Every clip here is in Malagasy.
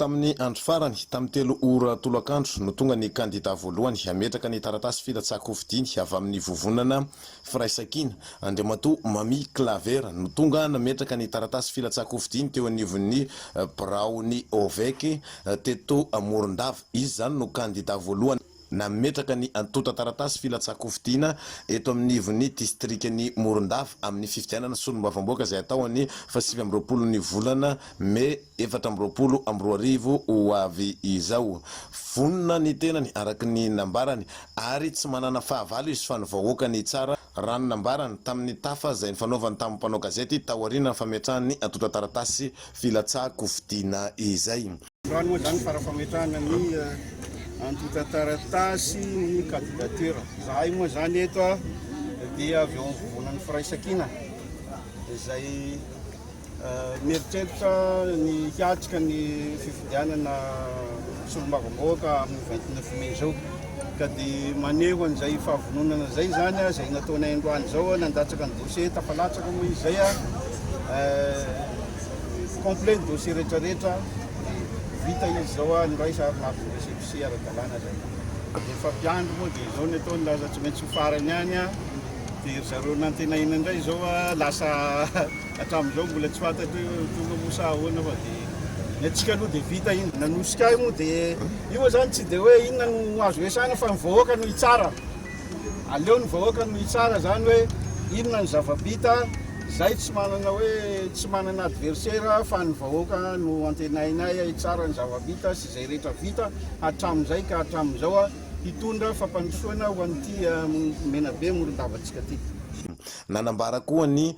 Tamin'ny andro farany, tamin'ny telo ora tolakandro, no tonga ny kandidà voalohany hametraka ny taratasy filatsahan-kofidiny avy amin'ny Vovonana Firaisankina. Andriamatoa Mamie Claver no tonga nametraka ny taratasy filatsahan-kofidiny teo anivon'ny biraon'ny Ovec teto Morondava. Izy izany no kandidà voalohany. Nametraka ny antontan-taratasy filatsahan-kofidiana eto amin'ny ivon'ny distrikan'i Morondava amin'ny fifidianana solombavamboaka izay hatao an'ny faha sivy amby roapolon'ny volana mey efatra amby roapolo amby roa arivo ho avy izao. Vonona ny tenany araka ny nambarany ary tsy manana fahavalo izy fa ny vahoaka ny hitsara raha ny nambarany tamin'ny tafa izay nifanaovany tamin'ny mpanao gazety taorianan'ny fametrahany ny antontan-taratasy filatsahan-kofidiana izay. Androany moa izany fara-fametrahana ny antontan-taratasy ny candidature. Zahay moa izany eto dia avy ao amin'ny vovonan'ny firaisankina izay mieritreritra ny hiatrika ny fifidianana solombavambahoaka amin'ny 29 mai izao. Ka dia maneho an'izay fahavononana izay izany izay nataonay androany izao, nandatsaka ny dossier tafalatsaka moa izay. complet ny dossier rehetra rehetra de vita izy zao a noraisa ary mafy récépissé ara-dalàna zay efa mpiandry moa de zao ny atao ny laza tsy maintsy ho farany any a de ry zareo nantenaina indray zao a lasa hatramin'izao mbola tsy fantatro hoe tonga moa sa ahoana fa de ny antsika aloha de vita iny nanosika ahy moa de io moa zany tsy de hoe inona no azo resahana fa ny vahoaka no hitsara Aleo ny vahoaka no hitsara zany hoe inona ny zavabita, zay tsy manana hoe tsy manana adversaire fa ny vahoaka no antenainay hitsara ny zavabita sy zay rehetra vita hatramzay ka hatramzao hitondra fampandrosoana ho an'ity Menabe Morondavantsika ty. Nanambara koa ny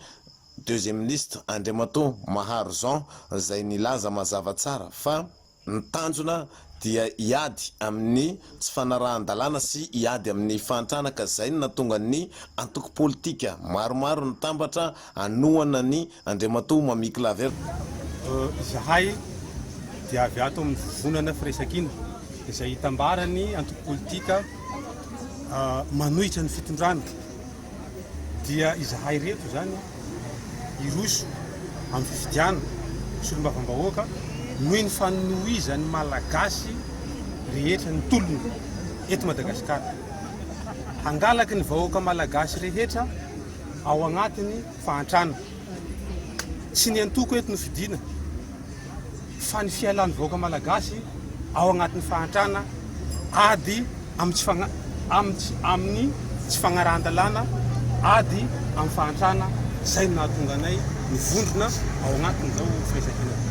Deuxième Ministre Andriamatoa Maharo Jean zay nilaza mazava tsara fa. Ny tanjona dia hiady amin'ny tsy fanarahan-dalàna sy hiady amin'ny fahantrana ka izay no nahatonga ny antoko politika maromaro nitambatra hanohana ny Andriamatoa Mamie Claver. Izahay dia avy ato amin'ny Vovonana Firaisankina izay itambaran'ny antoko politika manohitra ny fitondrana dia izahay ireto izany hiroso amin'ny fifidianana ho solombavambahoaka noho ny fanohizan'ny Malagasy rehetra ny tolona eto Madagasikara. Hangalaky ny vahoaka Malagasy rehetra ao agnatiny fahantrana. Tsy ny antoko eto no fidiana. fa ny fialan'ny vahoaka malagasy ao anatin'ny fahantrana ady amin'ny tsy fagna- amin'ny tsy- amin'ny tsy fagnarahan-dalàna ady amin'ny fahantrana izay no nahatonga anay nivondrona ao anatin'izao firaisankina izao.